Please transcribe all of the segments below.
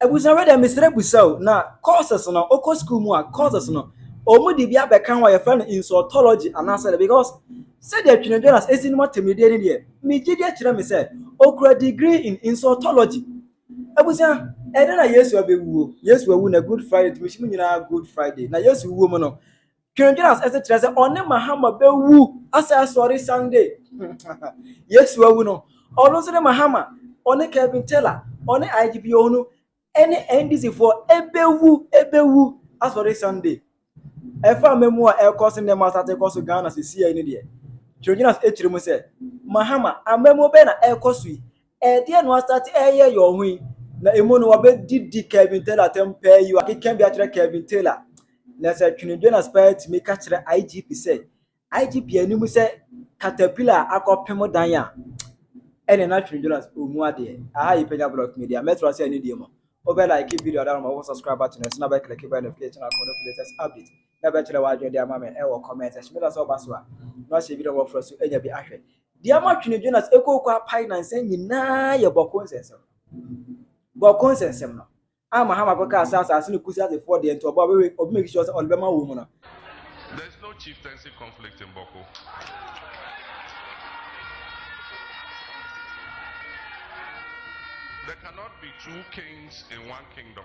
Ebusua wei deɛ mesrɛ busa o, na courses no wokɔ school mu a courses no wɔn de bi abɛka ho a yɛfrɛ no insultology anaasɛ dɛ because sɛdeɛ Twene Jonas esi nom atemmudeɛ ni deɛ megye deɛ kyerɛ me sɛ okura degree in insultology. Ebusua ɛdɛ na Yesu abɛwuo, Yesu awu na Good Friday nti mehyɛ mu nyinaa Good Friday na Yesu wuo mu no Dwendwen as ɛsɛ kyerɛ sɛ ɔne Mahama bɛwu asɛ asɔre Sunday. Yesu awu no, ɔno nso ne Mahama, ɔne Kevin Taylor, ɔne IGP Ohunu, ɛne NDC foɔ ɛbɛwu ɛbɛwu asɔre Sunday. Ɛfa mmamu a ɛkɔ so nnɛ ma asate kɔ so Ghana sisi yɛ ne deɛ. Dwendwen as ɛkyerɛ mu sɛ Mahama, ammamuo bɛn na ɛkɔ so yi? Ɛdeɛn na wɔastate reyɛ yɛ wɔn ho yi? Na emu no, wɔbɛdidi Kevin Taylor atɛm paa yi o. Akeka bi akyerɛ Kevin Taylor. Na sɛ twenedwenas paa tumi ka kyerɛ IGP sɛ, IGP anim sɛ caterpillar akɔpem dan a, ɛne na twenedwenas ɔmu adeɛ. Aha yi Panya Block Media. Mɛtra sɛ ɛne deɛ mu. Wobɛ like video adan ma wo subscribe button ɛso na bɛ click bɛ notification akɔ no latest update. Na bɛkyerɛ w'adwene de ama me ɛwɔ comment section. Meda sɛ woba so a na wahyɛ video wɔfrɛ so anya bi ahwɛ. Deɛ ama twene Jonas ɛkooko apae nnansa nyinaa yɛ bɔko nsɛnsɛm. Bɔko nsɛnsɛm no ama Ham akɔka sɛ asase no kusi asefoɔ deɛ nti ɔbɔ a ɔbɛwe ɔbɛ make sure sɛ ɔde bɛma wɔn mu no. There is no chieftaincy conflict in Bɔko. There cannot be two kings in one kingdom.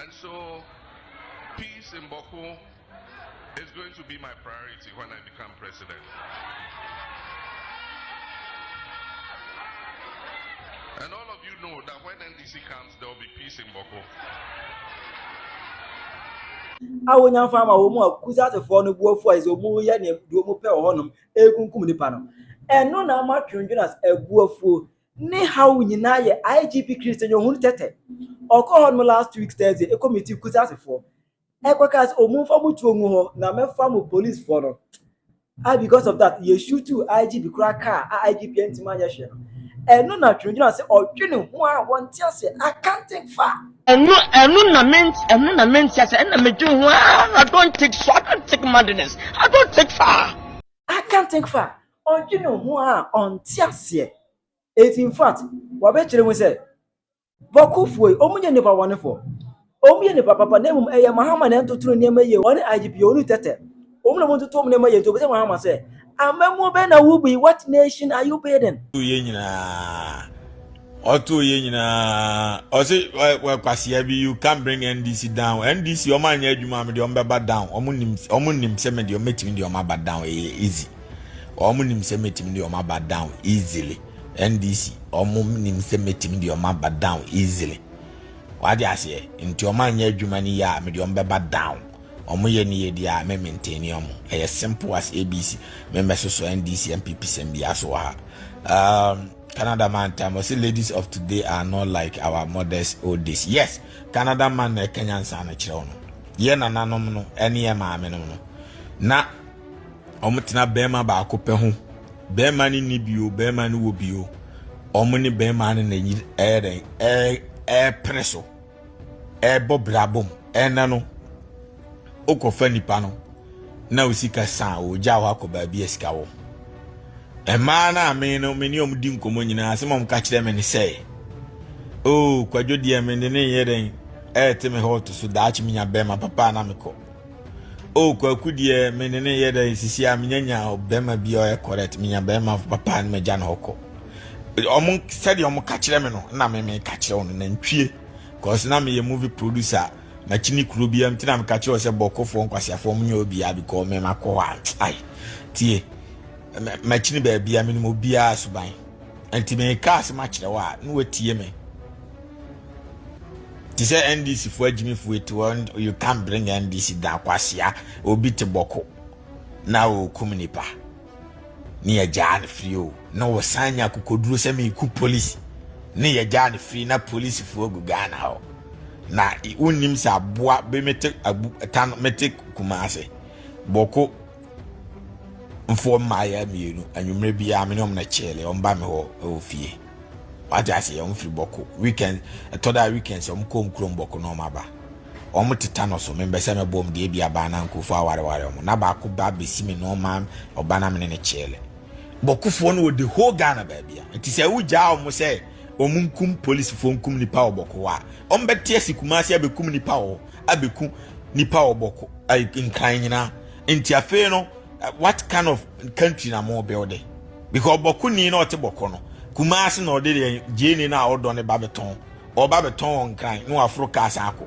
And so, peace in Bawku is going to be my priority when I become president. And all of you know that when NDC comes, there will be peace in Bawku. a wonya fa ma wɔn a kusasefoɔ no buafoɔ a ɛsɛ wɔn yɛ ne deɛ wɔn pɛ wɔ hɔnom ekunkum nipa no ɛno na ama twendwen as abuafoɔ Ne haw nyinaa yɛ IGP Chris Tenyohun Tete. Ɔkɔɔ hɔ nom last week Thursday ɛkɔ meeting Kusase foɔ. Ɛkɔ kaa sɛ ɔmo nfa ɔmo tuo ngu hɔ na mɛfa mo police foɔ no. Ah because of that yɛ shootu IGP koraa kaa a IGP antimi anyɛ hwee no. Ɛno na Twinogyina sɛ ɔdwe ne ho a wɔnte aseɛ I can't think far. Ɛno ɛno na me ɛno na mente aseɛ ɛna me dwene ho aa I don't think so I don't think madness I don't think far. I can't think far Ɔdwene ho a ɔnte aseɛ. Enti in fact, wɔbɛkyerɛ mu sɛ, Bɔkofoɔ yi, wɔn nyɛ nnipa bɔnefoɔ. Wɔn yɛ nnipa papa, na mmom ɛyɛ Mahama na ɛntoto ne nneɛma yie, ɔne IGP, wɔn nu tɛtɛ. Wɔn na wɔntoto wɔn nneɛma yie, nti wɔbisa Mahama sɛ, Amammuo bɛn na wobu yi, what nation are you building? Yɛn nyinaa. ɔtoo yɛ nyinaa ɔse wɔ kwasea bi you can bring ndc down ndc ɔmo anyɛ adwuma a mede ɔmo bɛba down ɔmo nim ɔmo nim sɛ mede ɔmo mɛtumi de ɔmo aba down ɛyɛ eh, easy ɔmo nim sɛ mɛtumi de ɔmo aba down easily ndc ɔmo nim sɛ mɛtumi de ɔmo aba down easily wade aseɛ nti ɔmo anyɛ adwuma no yɛ a mede ɔmo bɛba down ɔmo yɛ ne yɛ di a mɛ maintain ne ɔmo ɛyɛ simple as abc mɛmɛsoso ndc npp sɛm bi aso wɔ ha um, Canada man time ɔsi ladies of today are not like our mothers old days yes Canada man na ɛka nyansa no kyerɛw no yɛ nananom no ɛne yɛ maame nom no na wɔn tena bɛrima baako pɛ ho bɛrima ne ni bio bɛrima ne wɔ bio wɔn ne bɛrima ne na ɛyɛ dɛn ɛɛ ɛɛpere so. ɛrebɔ bra bom ɛna no wokɔfa nipa no na osika san ogya hɔ akɔ baabi a sika wɔ mmaa no a me no me ne ɔm di nkɔmmɔ nyinaa asɛm ɔm ka kyerɛ me ne sɛ o oh, kwadwo deɛ mede ne yɛ dɛn ɛɛte me hɔ to so daakye menya bɛrima papa na mekɔ O kwaku deɛ me ne ne yɛ dɛ sisi a menya nya bɛrima bi a ɔyɛ correct menya bɛrima papa no magya no hɔkɔ ɔmo sɛdeɛ ɔmo ka kyerɛ me no na me me ka kyerɛ ɔno nantwie cause na meyɛ movie producer makyini kuro bi am tina meka kyerɛ sɛ bɔkɔfoɔ nkwasiafoɔ ɔmo nyɛ obiara because me makɔ hɔ a ai tie makyini baabi a menim obiara suban nti meka asɛm akyerɛ wo a na watie me te sɛ ndc fo agyimifo eti wɔn you can bring ndc down kwasia obi te bɔko na okum nipa ne yɛ gyaa ne firi o na wɔsan nya kokoduro sɛ meku polisi ne yɛ gyaa ne firi na polisifoɔ gu ghana hɔ na wonnim sɛ aboa bɛmete abu ɛta no mete kuma ase bɔko mfoɔ mmaayɛ mmienu anwummerɛ biara me ne wɔn kyɛɛle wɔn ba me hɔ wɔ fie wagye ase wɔn firi bɔko weekend ɛtɔ da weekend sɛ wɔn kɔ wɔn kurom bɔko na wɔn aba wɔn teta no so membɛ sɛ mɛbɔ wɔn deɛ bi abaa na nkurɔfoɔ awareware wɔn na baako ba bɛsi me nɔɔma ɔba na me ne ne kyɛɛle bɔkofoɔ no wɔde whole ghana baabi a nti sɛ wogyaa wɔn sɛ wɔn nkum polisifoɔ nkum nipa wɔ bɔko hɔ a wɔn bɛte asi kuma ase abɛkum nipa wɔ abɛku nipa wɔ bɔko nkran nyinaa Nti afei no what kind of country na mo build it? Because bɔko ni na ɔte bɔko no. Kumasi na ɔde deɛ gyeni na ɔdɔ ne ba bɛtɔn. Ɔba bɛtɔn wɔn kran na waforo kaa san akɔ.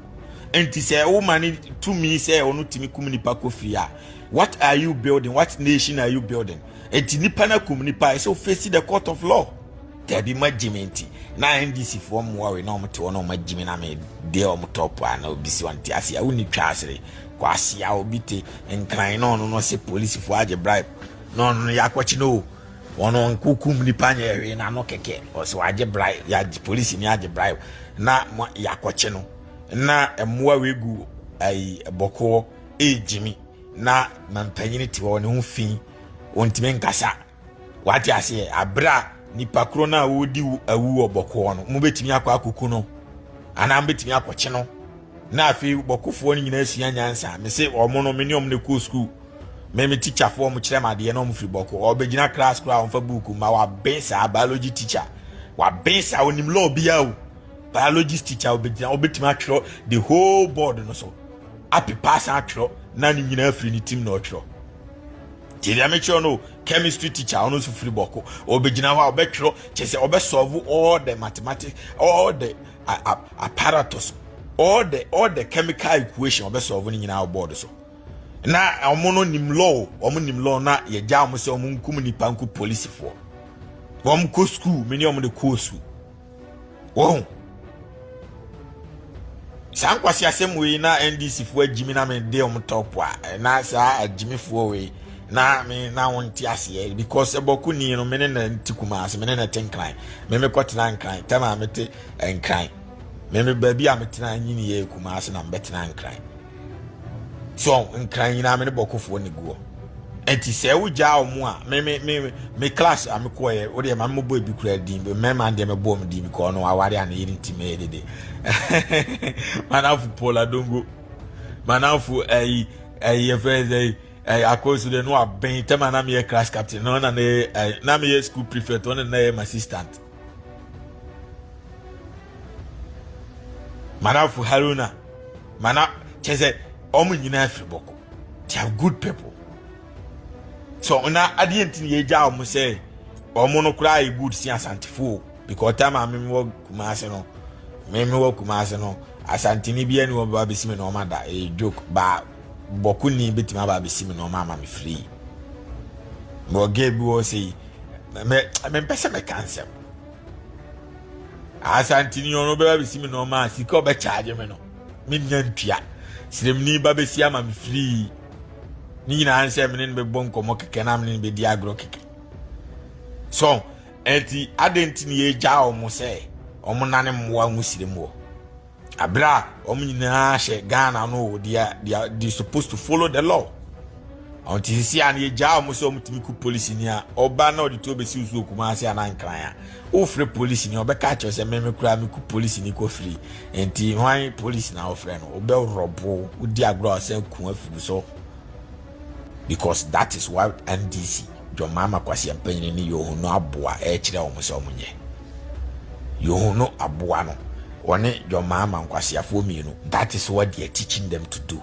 Nti sɛ woma ne tumi sɛ ɔno tumi kum nipa kɔ fie a what are you building? What nation are you building? Nti nipa na kum nipa ɛsɛ ofesi the court of law. Dabi ma gyimi nti na NDC foɔ mmoa wei na wɔn te hɔ na wɔn agyimi na me deɛ wɔn tɔp a na obi si wɔn te ase a wonni twa asere kɔ ase a obi te nkran na ɔno no se polisi foɔ agye bribe na ɔno no yakɔkye no wɔn nkokum nipa nyɛ ɛhwee na ano kɛkɛ ɔsɛ wagye bribe yagye polisi ni agye bribe na yakɔkye no na mmoa wei gu ayi bɔkɔɔ ɛgyimi na mampanyini te hɔ ne ho fi wɔntumi nkasa. Wate aseɛ abere a nipa koro no a wɔredi awu wɔ bɔkoɔ no mobɛtumi akɔ akɔku no anaa mobɛtumi akɔkye no na afei bɔkofoɔ no nyinaa sua nyansa me se ɔmo no me ne ɔmo no kɔɔ sukuu me me tikyafoɔ ɔmo kyerɛ m adeɛ na ɔmo firi bɔko ɔbɛgyina class koraa ɔmfa buuku ma waben saa biology teacher waben saa onim law biara o biology teacher ɔbɛgyina ɔbɛtumi atwerɛ the whole board no so apepa asan atwerɛ na ne nyinaa firi ne tim na ɔtwerɛ Nti deɛ mekyerɛ no chemistry teacher ɔno nso firi bɔko ɔbɛgyina hɔ a ɔbɛtwerɛ kyɛ sɛ ɔbɛsɔlve all the mathematics all the apparatus all the all the chemical equation ɔbɛsɔlve no nyinaa wɔ board so na wɔn no nim law wɔn nim law na yɛgya wɔn sɛ wɔn nkum nipa nku polisifoɔ wɔn kɔ sukuu mene wɔn de kɔɔ sukuu wɔn saa nkwasi asɛm wei na ndc foɔ agyimi na mede wɔn tɔpo a eh, na saa agyimifoɔ wei na me na wɔn nte aseɛ because ɛbɔko ni no me ne na nti kuma ase me ne na te nkran me me kɔtena nkran tɛm a mete nkran me me baabi a metena nyini yɛ kuma ase na mebɛtena nkran so nkran nyinaa me ne bɔkofoɔ ne guɔ ɛnti sɛ wogyaa wɔn a me me me me class a mekɔɔ yɛ wodeɛ ma mebɔ ebi kura din mmarima deɛ mebɔ wɔn din because ɔno aware a ne yere nti mɛyɛ dede manafo paul adongo manafo ɛyi ɛyi yɛfrɛ ɛyi ɛyi akɔsu deɛ no abɛn tɛm a na meyɛ class captain na ɔna ne ɛyi na meyɛ school prefect ɔna na yɛ my assistant. Manafo Haruna, mana kyerɛ sɛ wɔn nyinaa firi bɔkɔ. They are good people. So na adeɛ nti na yɛgya wɔn sɛ wɔn no koraa yɛ good si asantefoɔ because time a meme wɔ Kumase no meme wɔ Kumase no asanteni bi ɛne wɔn bɛba bɛsi me na wɔn ada ɛyɛ joke baa bɔkuni bɛtumi aba bɛsi me na wɔn ama me free. Mewɔ gay bi wɔ sɛ yi mɛ mempɛ sɛ mɛka nsɛm asantini ɔno bɛba bɛsi me nɔɔma a sika ɔbɛkyaagye me no mennya ntua sremni ba bɛsi ama me firii ne nyinaa nsɛ mene no bɛbɔ nkɔmmɔ kɛkɛ na mene no bɛdi agorɔ kɛkɛ so ɛnti adɛn nti ne yɛgyaa ɔmo sɛ ɔmo nane mmoa ho sirem wɔ Abere a wɔn nyinaa hyɛ Ghana no o, they are they are they supposed to follow the law. Wɔn ti sisi a na yɛgyaa wɔn sɛ wɔn tumi ku polisi ni a ɔba na ɔde tuo besi nsuo kuma ase anaa nkran a ofre polisi ni ɔbɛka akyerɛ sɛ mmɛmɛ kura mi ku polisi ni kɔ firi nti hwan polisi na ɔfrɛ no ɔbɛ rɔbo odi agorɔ a ɔsɛn kun afiri so because that is what NDC John Mahama Kwasi Mpanyin ne Yohono aboa ɛkyerɛ wɔn sɛ wɔn nyɛ. Yehu no aboa no, ɔne John Mahama nkwaseafoɔ mmienu. That is what they are teaching them to do.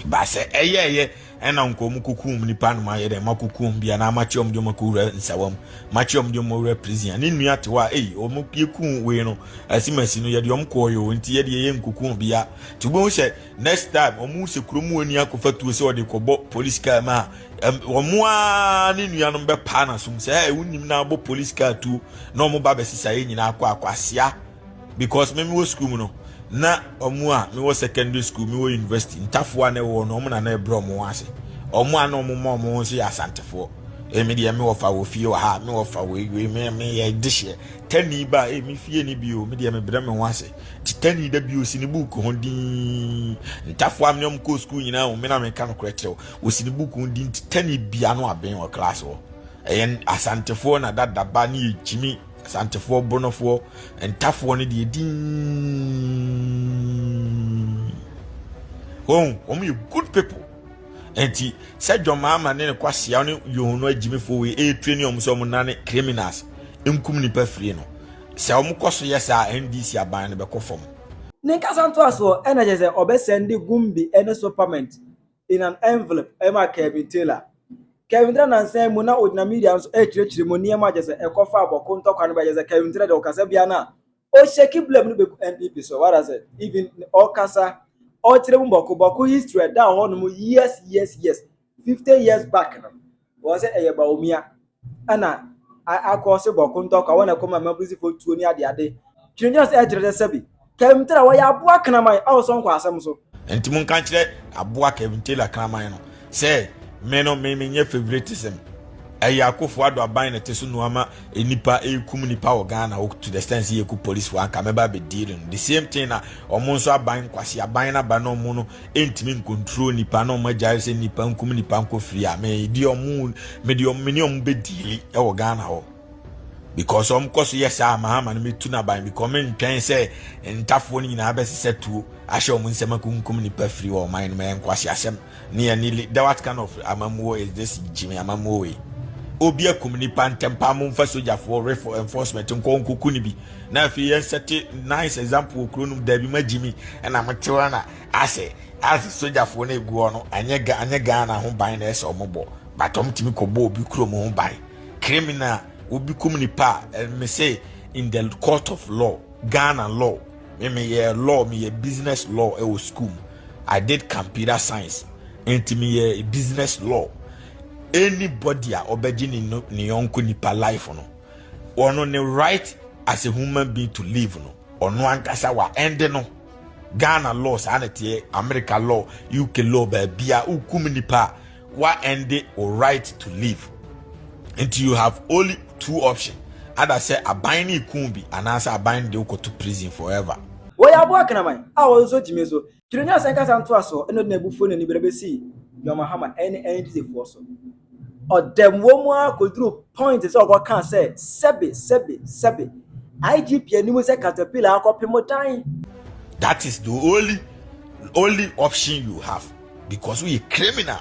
Ba sɛ ɛyɛ ɛyɛ ɛna nka wɔn kukum nipa no ayɛ dɛ ma kukum bia na ama kyɛ wɔn de wɔn akɔwura nsawam ma kyɛ wɔn de wɔn awura prison ne nua te hɔ a eyi wɔn yɛ kum wei no asimasi no yɛde wɔn kɔɔ yɛ wɔn ti yɛde yɛ nkukum bia te wɔn sɛ. Next time wɔn sɛ kurom wɔ ni akɔfa tuo sɛ ɔde kɔbɔ police car mu a wɔn a ne nuanom bɛpaa n'asom sɛ ɛɛ wonim na abɔ police car tuo na wɔn ba bɛsesa yɛn nyinaa akɔ akɔ asia because me wɔ school mu no na wɔn a me wɔ secondary school me wɔ university ntafoɔ a na ɛwɔ no wɔn na na ɛbrɛ wɔn ase wɔn a na wɔn ma wɔn ho nso yɛ asantefoɔ ɛmi deɛ me wɔfa wɔ fie wɔ ha me wɔfa wɔ ewie me me yɛ de hyɛ tɛni ba ɛmi fie ni bio me deɛ me brɛ me ho ase. Titenani da bio si ne buuku ho din. Ntafo a me ne wɔn kɔɔ sukuu nyinaa hu me na meka nokorɛ kyerɛ wo. Wɔsi ne buuku ho din Titenani Bia no Aben wɔ klaase hɔ. Ɛyɛ Asantefoɔ na dadaba ne ɛgyimi Asantefoɔ Bornofoɔ ntafoɔ no deɛ din. Wɔn, wɔn yɛ good people. Enti sɛ John Mahama ne ne kwasia ne Yohono agyimifoɔ wei ɛretrɛ ne wɔn sɛ wɔn nane criminals nkum nipa firi no. Sɛ wɔn kɔ so yɛ saa a, NDC aban no bɛkɔ fam. Ne nkasa ntoasoɔ na kyerɛ sɛ ɔbɛ sɛnde Gumbi ne Sopament in an envelope ma Kelvin Taylor. Kelvin Taylor nansa yi mu na ɔgyina media no so ɛrekyerɛkyerɛ mu nneɛma a kyerɛ sɛ ɛkɔ fa abɔko ntɔkwa no bɛ kyerɛ sɛ Kelvin Taylor deɛ ɔkasa biara no a ɔhyɛki blame no bɛgu NPP so what does it even ɔkasa ɔkyerɛ mu bɔko bɔko history ɛda hɔ nom years years years fifty years back no wɔ sɛ ɛyɛ baomia ɛna akɔɔse bɔko ntɔkwa wɔn na ɛkɔma mmabusifoɔ eh, tuo ne adeade twinigya sɛ ɛkyerɛ sɛ sɛbi kɛmtira wɔyɛ aboa kraman a wɔsɔ nkɔ asɛm so. nti mo nka nkyerɛ aboa kɛmtira kraman no sɛ me no me menyɛ favoritism ɛyɛ akofo ado aban na ɛte so nnuama nnipa ɛkum nnipa wɔ ghana to the extent yɛku policefoɔ anka mɛba bɛdii no the same thing na ɔmo nso aban nkwasi aban no aba no ɔmo no ɛntumi nkontrol nipa na ɔmo agyae sɛ nipa nkum nipa nkɔ firi a mede ɔmo mede ɔmo mene ɔmo bɛdiili ɛwɔ ghana hɔ because ɔmo kɔ so yɛ saa maa ama no metu n'aban because ɔmo ntwɛn sɛ ntafoɔ no nyinaa bɛsesɛ tuo ahyɛ ɔmo nsɛm akunkum nipa firi wɔ ɔman no ma yɛn nkwasi asɛm ne yɛn ne da what kind of amammuo is this gyimi amammuo wei obi akum nipa ntɛmpa mo nfa sogyafoɔ refo enforcement nkɔ nkoku no bi na afei yɛn sɛte nice example wɔ kuro no mu daabi ma gyimi ɛna mo tewa na ase ase sogyafoɔ no ɛguɔ no anyɛ anyɛ ghana ho ban na ɛsɛ ɔmo bɔ but ɔmo tumi kɔbɔ obi kurom ho ban criminal obi kum nipa a me sɛ in the court of law ghana law me meyɛ law meyɛ business law ɛwɔ school mu i did computer science nti meyɛ business law anybody a ɔbɛgye ne ne yɔnko nipa life no ɔno ne right as a human being to live no Ɔno ankasa wa ɛnde no Ghana law saa na teɛ America law UK law baabia wokum nipa wa ɛnde wo right to live nti you have only two option ada sɛ aban ne kun bi anaasɛ aban de wokɔto prison forever. Wɔyɛ aboa kraman a wɔsosɔ gyimie so. Twerɛ nyɛ asɛn kasa ntoasoɔ ɛna ɔde n'abufuo na anibere bɛsi John Mahama ɛne NDCfoɔ so. Ɔdam wɔ mu ara kɔduru point sɛ ɔkɔkaa sɛ sɛbe sɛbe sɛbe IGP anim sɛ caterpillar akɔpe mo dan. That is the only only option you have because woyɛ criminal.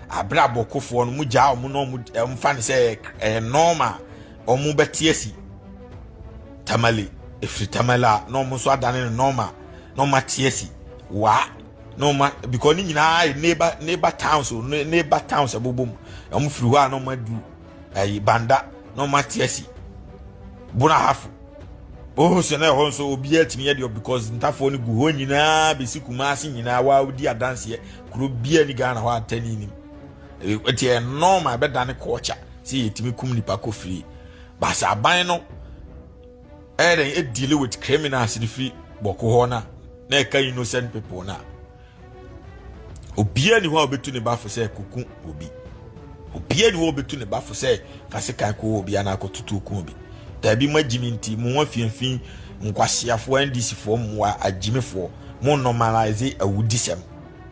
Abrabɔ kofoɔ no, mogyaa wɔn na wɔmfa no sɛ ɛyɛ nɔɔma a wɔbɛte asi tamale ɛfiri tamale a na wɔn nso adane no nɔɔma na wɔate asi waa na wɔn because ne nyinaa yɛ neighbor neighbor towns o neighbor towns ɛbobɔ mu wɔn firi hɔ a na wɔn adu ɛyi banda na wɔn ate asi bunahafo ohun sɛ na ɛhɔ nso obiara tumi yɛ deɛ because ntafoɔ no gu hɔ nyinaa bɛsi kumase nyinaa waa odi adanseɛ. Kuro biara ni Ghana hɔ a ntɛni nim. Ɛti ɛyɛ norm a ɛbɛdane kɔɔkya sɛ yɛtumi kum nipa kɔ firie. Baasa aban no ɛyɛ dɛn ɛdili with criminals no firi bɔko hɔ no na ɛka innocent people no a obiara ni hɔ a ɔbɛtu ne bafo sɛ kuku obi. Obiara ni hɔ a ɔbɛtu ne bafo sɛ kasekan kɔ obi anaa kɔtutu ku obi. Daabi mo agyimi nti mo ho afiamfi nkwaseafoɔ NDCfoɔ mmoa agyimifoɔ mo normalise awudisɛm.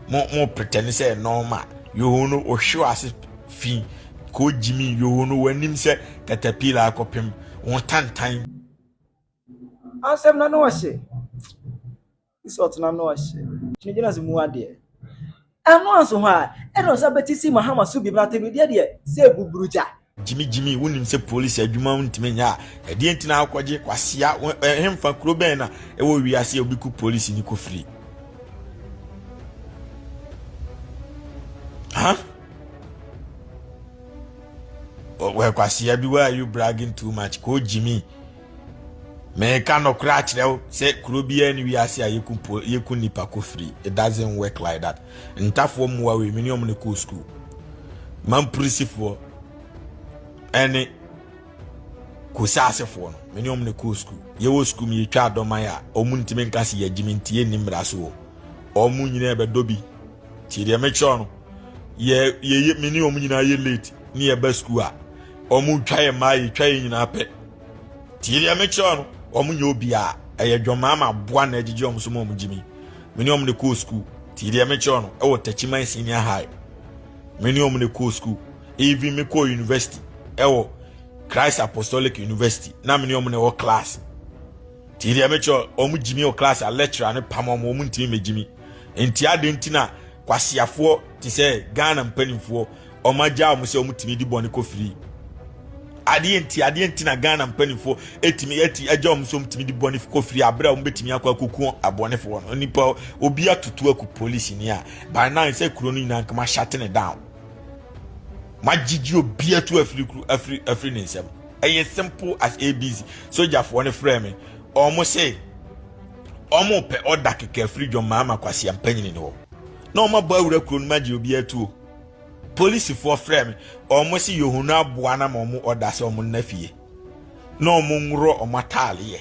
mo mo pretend sɛ normal yoho no ohwe ase fi ko gyimi yoho no wanim sɛ katapila akɔpem wo tantan asɛm na no ɔhye isi ɔtena no ɔhye gyina gyina se mu adeɛ ɛno anso hɔ a ɛna ɔsa bɛti si mahama so bi na tebredeɛ deɛ sɛ buburugya Gyimi gyimi wonim sɛ police adwuma wo ntumi nyɛ a ɛdeɛ nti na akɔgye kwasia hemfa kuro bɛn na ɛwɔ wiase a obi ku police ni kɔ firi ha wɔ kwasia bi why are you bragging too much kɔ gyimi Meka nɔkorɛ akyerɛ wo sɛ kuro biara ne wiase a yɛku po yɛku nipa kɔ firi it doesn't work like that ntafoɔ mmoa wei mene ɔmo ne kɔɔ sukuu mampurisifoɔ ɛne kosaasefoɔ no mene ɔmo ne kɔɔ sukuu yɛwɔ sukuu mu yɛtwa adɔman a ɔmo ntumi nka se yɛgyimi nti yɛnni mmara so wɔ ɔmo nyinaa ɛbɛdɔ bi nti deɛ mekyerɛ no yɛ yɛ mene ɔmo nyinaa yɛ late ne yɛba sukuu a Wɔn twa yɛ maa yɛ twa yɛ nyinaa pɛ. Tie deɛ mekyerɛ wɔn. Wɔn nyɛ obiara. Ɛyɛ dwɔmaa ma aboa na ɛgyegye wɔn so ma wɔn gyimi. Me ne wɔn na ɛkɔɔ sukuu. Tie deɛ mekyerɛ wɔn. Ɛwɔ Tachiman Senior High. Me ne wɔn na ɛkɔɔ sukuu. Even me kɔɔ university. Ɛwɔ Christ Apostolic University. Na me ne wɔn na ɛwɔ class. Tie deɛ mekyerɛ wɔn. Wɔn gyimi wɔ class a lecturer ne pam wɔn. Wɔn ntumi megyimi. Nti adi nti na Kwaseafoɔ te sɛ Ghana mpanimfoɔ wɔn agya wɔn sɛ wɔn tumi di bɔne kɔ firi adeɛ nti adeɛ nti na Ghana mpanimfoɔ etumi eti agya wɔn sɛ wɔn tumi di bɔne kɔ firi abere a wɔn betumi akɔ akoko abɔnefoɔ no nipa obi atutu aku polisi ni a by nine sɛ kuro no nyinaa nkama shut ne down ma gyigyi obi atu afiri kuro afiri afiri ne nsam ɛyɛ simple as abc sogyafoɔ no frɛ me wɔn sɛ. Ɔmo pɛ ɔda kɛkɛ afiri dwom maa ma kwasia mpanyini no hɔ na ɔmo abɔ awura kuro no ma gye obi atuo. Polisifoɔ frɛ me ɔmo se yɛhunu aboa na ma ɔmo ɔda sɛ ɔmo nna fie na ɔmo nworo ɔmo ataaleɛ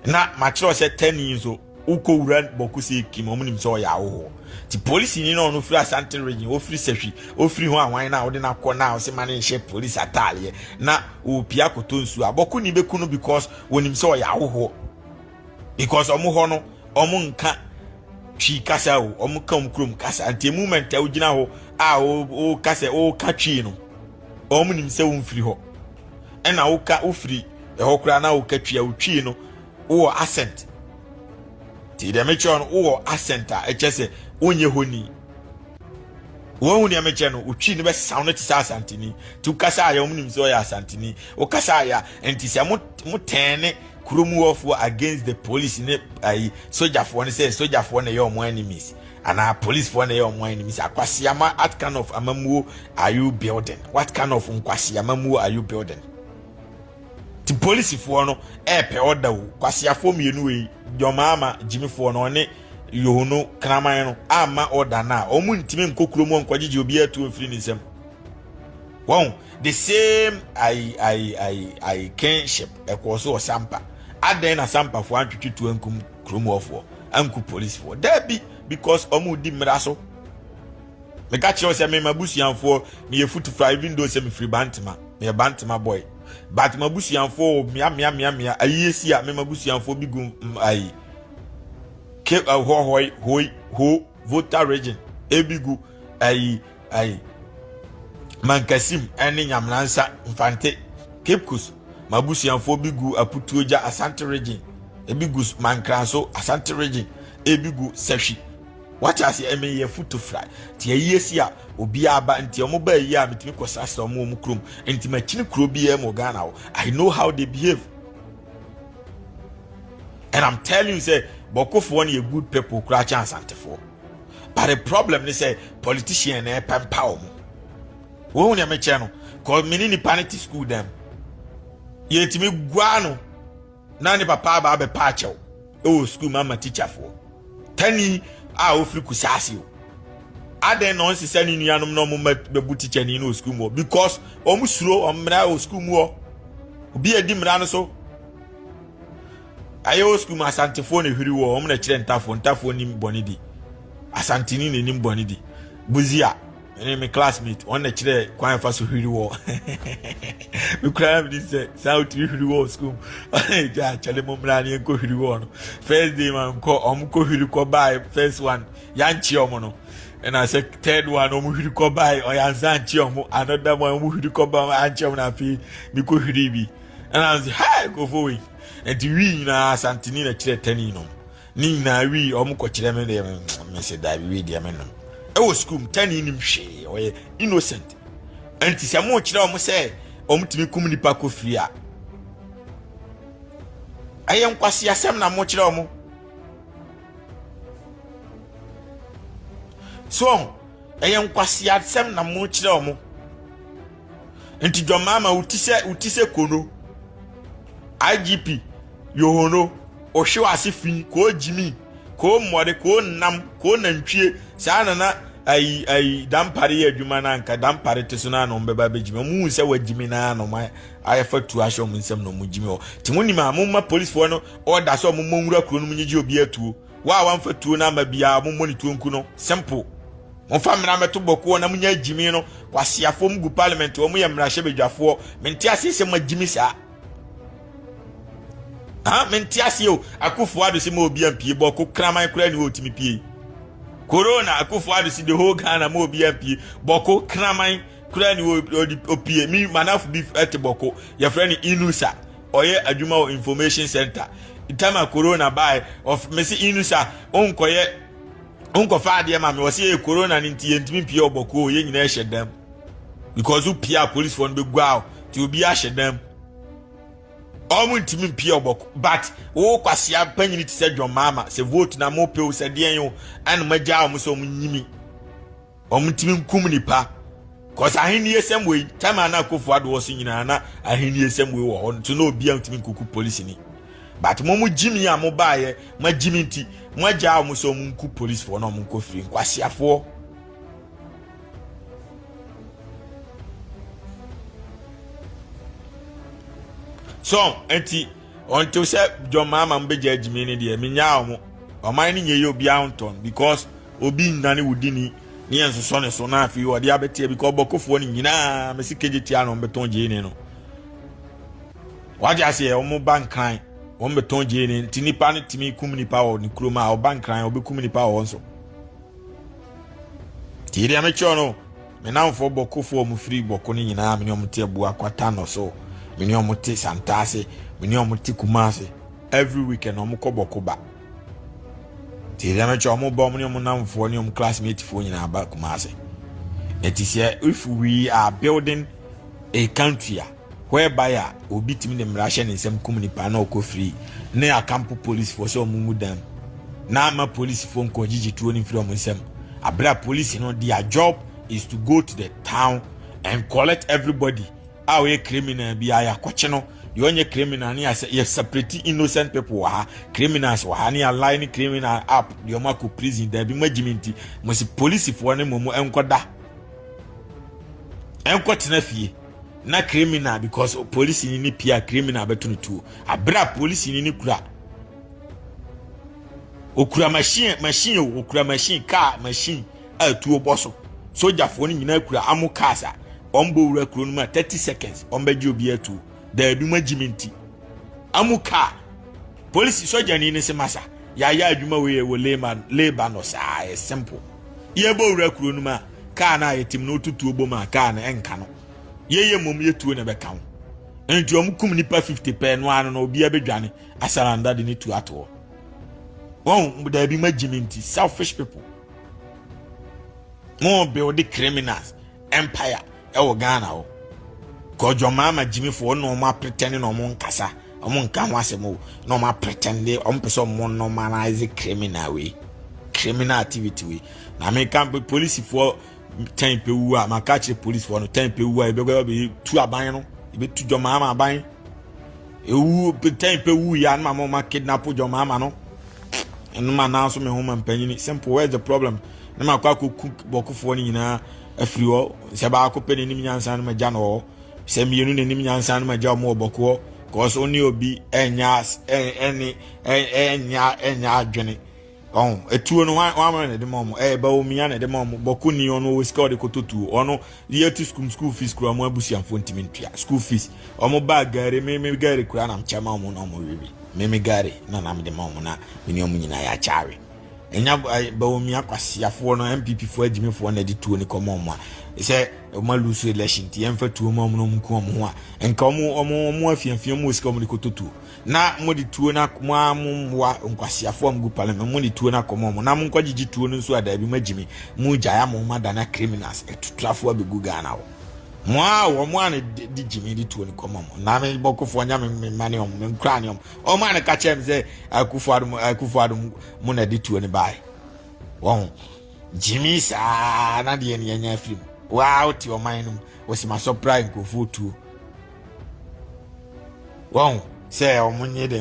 na makyerɛw sɛ tani nso wokɔ wura bɔko sɛ kim ɔmo nim sɛ ɔyɛ ahohoɔ ti polisini na ɔno firi asante region ofiri sahwi ofiri ho awan na wode no akɔ na ɔse ma ne nhyɛ polisi ataaleɛ na ɔpia kɔtɔ nsuo a bɔko ni bɛku no because wɔnim sɛ ɔyɛ ahohoɔ because wɔn hɔ no wɔn nka twi kasa o wɔn ka wɔn kurom kasa nti moment a wogyina hɔ a wɔka sɛ wɔka twi no wɔn nim sɛ wɔmfiri hɔ ɛna woka wofiri ɛhɔ koraa na woka twi a wotwi no wowɔ accent nti dɛm kyerɛ no wowɔ accent a ɛkyɛ sɛ wonyɛ hɔ ni Wɔhu nea mekyɛ no, wotwi no bɛsaw no te sɛ Asanteni. Ti wokasa a yɛ wɔn nim sɛ ɔyɛ Asanteni. Wokasa a yɛ nti sɛ mo mo tɛn ne kurom wɔfoɔ against the police ne ayi sogyafoɔ no sɛ sogyafoɔ na ɛyɛ wɔn enemies anaa policefoɔ na ɛyɛ wɔn enemies. Akwasiama what kind of amamuo are you building? What kind of nkwasiamamuo are you building? Ti policefoɔ no ɛɛpɛ ɔda o. Kwasiafoɔ mmienu wei, Jɔmaama gyimifoɔ no ɔne yoho no kraman no amma ɔda no a wɔn ntumi nkɔ kurom hɔ nkɔgyegye obiara tuo mfiri ne nsam wɔn the same ayi ayi ayi ayi kinship ɛkɔɔ so wɔ sampa adɛn na sampafoɔ antwetwe tuo ankum kurom hɔfoɔ anku policefoɔ daabi because wɔn di mmara so meka kyerɛw sɛ mema busuanfoɔ meyɛ futufa even though sɛ mefiri bantema meyɛ bantema boy but ma busuanfoɔ mea mea mea mea ayie si a mema busuanfoɔ bi gu ayi ke ɛhɔ hoi hoi ho volta region ebi gu ayi ayi mankasim ɛne nyamnansa mfante kipkus mabusuafoɔ bi gu aputuogya asante region ebi gu mankranso asante region ebi gu sahwi wate ase ɛmɛ yɛ futu fry te ayi esi a obiara ba nti wɔn ba ayi a metumi kɔ srasra wɔn wɔn kurom nti makyini kuro biara mu ghana hɔ i know how they behave. And I'm telling you, say Bokofoɔ no a good people koraa kyɛn Asantefoɔ. But the problem is say politician na ɛpɛ mpa wɔn. Wɔn nea mekyɛ no, cause me ne nipa no te school dɛm. Yɛtumi gua no na ne papa aba abɛpa akyɛw. wɔ sukuu mu ama tikyafoɔ tani a ɔfiri kusaase o adɛn na ɔnsesa ne nuanom na ɔmoma bɛbu tikyani no wɔ sukuu mu hɔ because ɔmo suro ɔmmara wɔ sukuu mu hɔ obi a di mmara no so ayɛ wɔ sukuu mu asantefoɔ na ehwiri wɔ ɔmo na kyerɛ ntafoɔ ntafoɔ nim bɔne di asanteni na enim bɔne di buzia ɛne me classmate wɔn na kyerɛ kwan afa so hwiri wɔ me kura mi ni sɛ saa otumi hwiri wɔ sukuu mu ɔne gya akyɛlɛ mu mmira ne nkɔ hwiri wɔ no first day ma nkɔ wɔn kɔ hwiri kɔ baa first one yankye wɔn no ɛna sɛ third one wɔn hwiri kɔ baa ɔyansa ankye wɔn another one wɔn hwiri kɔ baa ankye wɔn afei mi kɔ hwiri bi ɛna sɛ ha nkɔfo wei nti wi nyinaa santini na kyerɛ tɛni no. Ne nyinaa wii wɔn kɔkyerɛ me deɛ mese daabi wei deɛ menom ɛwɔ sukuu mu tani nim hwee ɔyɛ innocent nti sɛ mo kyerɛ wɔn sɛ wɔn tumi kum nipa kɔ firi a ɛyɛ nkwasi asɛm na mo kyerɛ wɔn so ɛyɛ nkwasi asɛm na mo kyerɛ wɔn. nti dɔmama wo ti sɛ wo ti sɛ kono igp yohono ohwe wase fi ko gyimi ko mmɔde ko nnam ko nantwie saa na na ayi ayi dampare yɛ adwuma na anka dampare te so na na ɔmbɛba bɛgyimi ɔmo hu sɛ wagyimi na na ɔmo ayɛ fa tu ahyɛ ɔmo nsɛm na ɔmo gyimi hɔ te mo nim a mo ma policefoɔ no ɔda sɛ ɔmo mmɔ nwura kuro no mu nyegye obi atuo Wo a wamfa tuo no ama biara, mommɔ ne tuo nku no. Simple. Momfa mmara mmɛto bɔkoɔ na monya agyimi no. Kwaseafoɔ mu gu parliament hɔ, moyɛ mmarahyɛbadwafoɔ. Mente aseɛ sɛ moagyimi saa. Ha, mente aseɛ o. Akufo ado se ma obi ampie bɔko kraman koraa ni hɔ otumi pie. Corona, akufo ado se the whole Ghana ma obi ampie bɔko kraman koraa ni hɔ opie. Mi manafo bi te bɔko, yɛfrɛ no Inusa. ɔyɛ adwuma wɔ information center tama corona bae ɔf mesi inu sa onkɔyɛ onkɔfa adeɛ ma me ɔsi yɛ corona ne nti yɛntumi mpie ɔbɔkoo yɛn nyinaa hyɛ dɛm because wopie a policefoɔ no bɛgua o nti obi ahyɛ dɛm ɔmo ntumi mpie ɔbɔko but wo kwasea panyini te sɛ dwɔn maama sɛ vote na mo pew sɛ deɛn o ɛna mo agya ɔmo sɛ ɔmo nyimi Wɔtumi nkum nnipa cause ahenniesɛm wei time a na akofo ado wɔ so nyinaa na ahenniesɛm wei wɔ hɔ nti na obi antumi nkuku polisi ni but mo mo gyimi a mo baayɛ mo gyimi nti mo agya a mo sɛ mo nku polisifoɔ na mo nkɔ firi nkwasiafoɔ. So nti Ɔntew sɛ John Mahama mo bɛgyaa gyimii no deɛ menyaa ɔmo. Ɔman no nyɛ yɛ obiara ho ntɔn because obi nnane wo dini ne yɛn nsosɔ ne so na afei ɔde abɛteɛ because ɔbɔkofoɔ no nyinaa mesi kegye tia na ɔmbɛtɔn gyini no. Wagye aseɛ ɔmo ba nkran ɔmbɛtɔn gyini nti nipa no tumi kum nipa wɔ ne kurom a ɔba nkran ɔbɛkum nipa wɔ nso. Ti deɛ mekyerɛ no Me nnamfoɔ Bɔkofoɔ a wɔfiri Bɔko no nyinaa, me ne wɔn te Abua Kwata no so, me ne wɔn te Santase, me ne wɔn te Kumase. Every weekend wɔkɔ Bɔko ba. Nti ɛdeɛ no kyɛ wɔn ba wɔn ne wɔn nnamfoɔ ne wɔn classmatefoɔ nyinaa ba Kumase. Ɛti sɛ if we are building a country a, whereby a obi tumi de mmara hyɛ ne nsam kum nipa na ɔkɔ firi ne akampo polisifoɔ sɛ wɔn mu dan na ama polisifoɔ nkɔ gyigye tuo no mfiri wɔn nsam abere a polisi no their job is to go to the town and collect everybody a ɔyɛ criminal bi a yɛakɔkye no deɛ ɔnyɛ criminal ne yɛsɛ yɛ separate innocent people wɔ ha criminals wɔ ha ne yɛalae ne criminal app deɛ ɔmo akɔ prison daabi mo agyimi nti mo si polisifoɔ ne mo mu nkɔda nkɔtena fie na criminal because police ni ne pia criminal bɛto no tuo abira police ni ne kura okura machine machine o okura machine car machine a tuo bɔ so sogyafoɔ no nyinaa kura amo cars a wɔn bɔ wura kuro no mu a thirty seconds wɔn bɛgye obi atuo daabi mu agyi mi nti amo car polisi sogyani ne se masa yɛayɛ adwuma wei yɛ wɔ leba no saa yɛ simple yɛbɔ wura kuro no mu a Kaa no a yɛtim no wotu tuo bom a kaa no ɛnka no. Yɛyɛ mmom yɛ tuo na ɛbɛka ho. Nti wɔn kum nipa 50 pɛ no ano no obiara bɛdwane asaranda de ne tuo ato hɔ. Wɔn daabi ma gyimi nti selfish people. Mo build criminals empire Ɛwɔ Ghana hɔ. Kɔ John Mahama Jimmy fo ɔno ɔmo apretɛne na ɔmo nkasa. Ɔmo nka ho asɛm o. Na ɔmo apretɛne ɔmo pɛ sɛ ɔmo normalize criminal wei. Criminal activity wei. Na me ka polisifoɔ tɛn pɛ wu a maka kyerɛ polisifoɔ no tɛn pɛ wu a ebɛkɔ ɛbɛ tu aban no ebe tu John Mahama aban. Ewu tɛn pɛ wu ya na mama ɔmo kidnap John Mahama no. Ɛno ma nanso me ho ma mpanyini simple where's the problem? Ne ma kɔ akɔ cook bɔkofoɔ no nyinaa afiri hɔ sɛ baako pɛ n'anim nyansa no ma gya no hɔ sɛ mmienu n'anim nyansa no ma gya wɔn wɔ bɔkoɔ kɔɔ so ne obi ɛnya ɛne ɛnya ɛnya adwene ɔn etuo no wɔn ama na ɛde ma wɔn ɛyɛ bɛ omi ana ɛde ma wɔn bɔko ni ɔno wɔ sika ɔde koto tuo ɔno yɛ tu sukuu sukuu fees kura wɔn abusuafo ntumi ntua sukuu fees wɔn baa gaari mímí gaari kura na kyɛ ma wɔn na wɔn wiwi mímí gaari na nam de ma wɔn na mene wɔn nyinaa yɛ akyaawe. Nya Bawumia Kwasiafoɔ no NPP foɔ agyimifoɔ na ɛde tuo no kɔma wɔn a sɛ wɔn alusu election nti yɛmfa tuo ma wɔn na wɔn nku wɔn ho a nka wɔn wɔn wɔn afiafia mu sika wɔn de kɔtɔ tuo na wɔn de tuo na wɔn a wɔn mmoa nkwasiafoɔ a wɔn gu parliament wɔn de tuo na kɔma wɔn na wɔn nkɔ gyegye tuo no nso a daabi mo agyimi mo gya ya mo ma dana criminals ɛtutrafoɔ abɛgu Ghana hɔ mo a wɔn a ne de gyimi de tuo no kɔma wɔn na me bɔkofoɔ nya me mma ne wɔn me nkura ne wɔn wɔn a no ka kyerɛ me sɛ akufo adom akufo adom mu na ɛde tuo no bae wɔn gyimi saa na deɛ ne anya afiri mu waa wote ɔman no mu wɔsi ma sɔpra nkurɔfoɔ tuo wɔn sɛ wɔn nye dɛ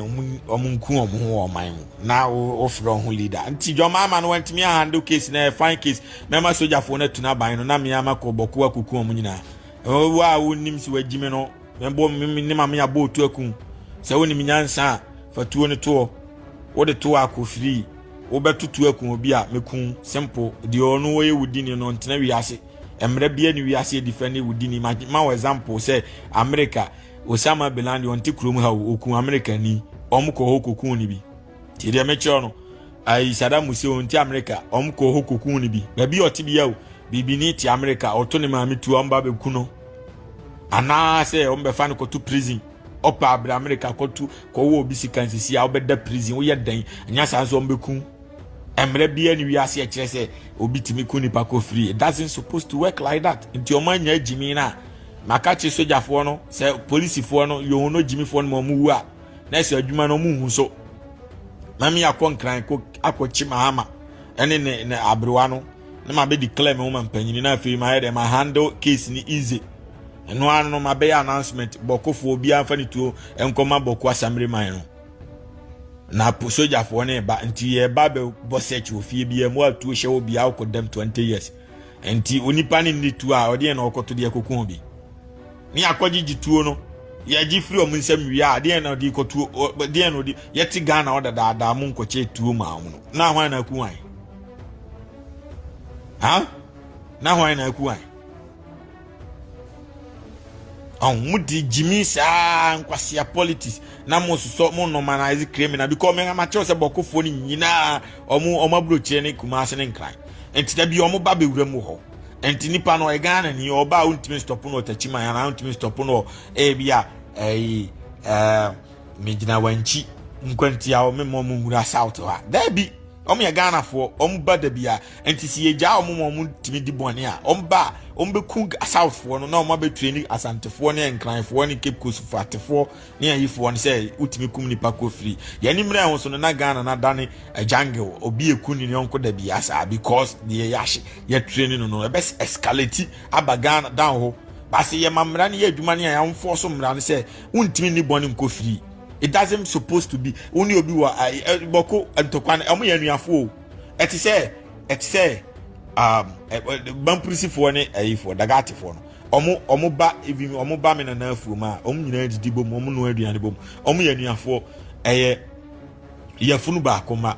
wɔn nku wɔn ho wɔ ɔman mu na wɔfrɛ wɔn ho leader nti dwɔma ama no wɔntumi ahandle case na ɛfan eh, case mɛma sogyafoɔ no atu n'aban no na mmea ama kɔ bɔko akuku wɔn nyinaa wɔn a wɔnim sɛ wɔagyimi no Mɛbɔ me ne maame abɔ otu aku. Sɛ wonim nyansa a, fa tuo no toɔ. Wode toɔ akɔ firi, wobɛto tuo aku obi a, mɛku wo. Simple. Deɛ ɔno ɔyɛ wo dini no, ɔntena wiase. Mmerɛ biara ne wiase ɛdifɛ ne wo dini. Ma wo example sɛ Amerika, Osama Bin Laden, ɔnte kurom ha o, ɔku Amerikani. Wɔkɔ hɔ kɔku no bi. nti deɛ mekyerɛ no ayi sadam mu sɛ wɔn ti amerika wɔn kɔ hɔ kokun no bi baabi a ɔte bia o biribi ne ti amerika ɔto ne maame tu wɔn ba bɛku no anaasɛ wɔn bɛfa no kɔto prison ɔpa abira amerika kɔto kɔwɔ obi sika nsisi a ɔbɛda prison woyɛ dɛn anya saa nso wɔn bɛku mmerɛ biara ne wiase ɛkyerɛ sɛ obi tumi ku nipa kɔ free it doesn't supposed to work like that nti wɔn anya gyimi no a maka kye sogyafoɔ no sɛ polisifoɔ no yɛn no gyimifoɔ no ma wɔn wu a na ɛsɛ adwuma no ɔmo hu so mami akɔ nkran kɔ akɔkye mahama ɛne ne ne aberewa no na ma bɛ declare me ho ma mpanyini na afei ma yɛ dɛ ma handle case ni easy ɛno ano no ma bɛyɛ announcement bɔkofoɔ obiara nfa ne tuo nkɔma bɔko asamire man no na po sogyafoɔ ne ba nti yɛ ba bɛ bɔ search wɔ fie biara mu atuo hyɛ wɔ biara kɔ dɛm twenty years nti onipa ne ne tuo a ɔde yɛn na ɔkɔto deɛ koko bi. Ne akɔgye gye tuo no yɛgye firi wɔn nsam wie a deɛ na ɔde kɔ tuo deɛ na ɔde yɛte ghana ɔda daadaa mu nkɔkyɛ tuo maa wɔn no na ahwan na aku wan ha na ahwan na aku wan ɔn mo di gyimi saa nkwasia politics na mo sosɔ mo normalize criminal because mo ma kyerɛw sɛ bɔkofoɔ no nyinaa wɔn wɔn aburokyerɛ ne kumase ne nkran nti da bi wɔn ba bɛwura mu hɔ. nti nipa no ɔyɛ ghana ni ɔba a wontumi nsitɔpo no ɔtakyi man anaa wontumi nsitɔpo no ebi a ɛyi ɛɛ megyina wankyi nkwantia wɔn mma wɔn nwura south ha daabi wɔn yɛ ghanafoɔ wɔn ba dabi a nti si yɛgya wɔn ma wɔn tumi di bɔne a wɔn ba a wɔn bɛku southfoɔ no na wɔn abɛtue ne asantefoɔ ne nkranfoɔ ne cape coastfoɔ atefoɔ ne ayifoɔ no sɛ wotumi kum nipa kɔ firi yɛne mmerɛ ho so no na ghana no adane jungle obi ɛku ne yɔnko da bia saa because deɛ yɛahye yɛtrɛ ne no no ɛbɛ escalate aba ghana dan hɔ baase yɛma mmara no yɛ adwuma ne a yɛamfoɔ so mmara no sɛ wontumi ne bɔne nkɔ firi it doesn't supposed to be wo ne obi wɔ bɔko ntɔkwa no ɛmo yɛ anuafoɔ o ɛte sɛ ɛte sɛ um, bampurisifoɔ ne ayifoɔ dagatefoɔ no Ɔmo ɔmo ba even ɔmo ba me nana afuom a ɔmo nyinaa didi bom ɔmo noa aduane bom ɔmo yɛ anuafoɔ ɛyɛ yɛfunu baako ma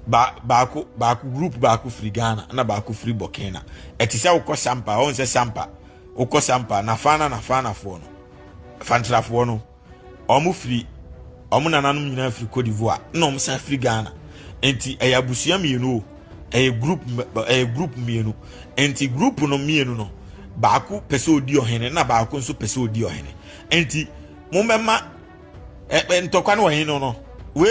ba baako baako group baako firi Ghana na baako firi Burkina ɛte sɛ wokɔ sampa ɔn sɛ sampa wokɔ sampa na fana na fanafoɔ no fantrafoɔ no. Wɔn firi, wɔn nananom nyinaa firi Cote d'Ivoire, ɛna wɔn san firi Ghana. Nti ɛyɛ abusua mmienu o, ɛyɛ group ɛyɛ group mmienu. Nti group no mmienu no, baako pɛ sɛ odi ɔhene na baako nso pɛ sɛ odi ɔhene. Nti mo mɛma ɛ ɛ ntɔkwa no wɔ he no no, we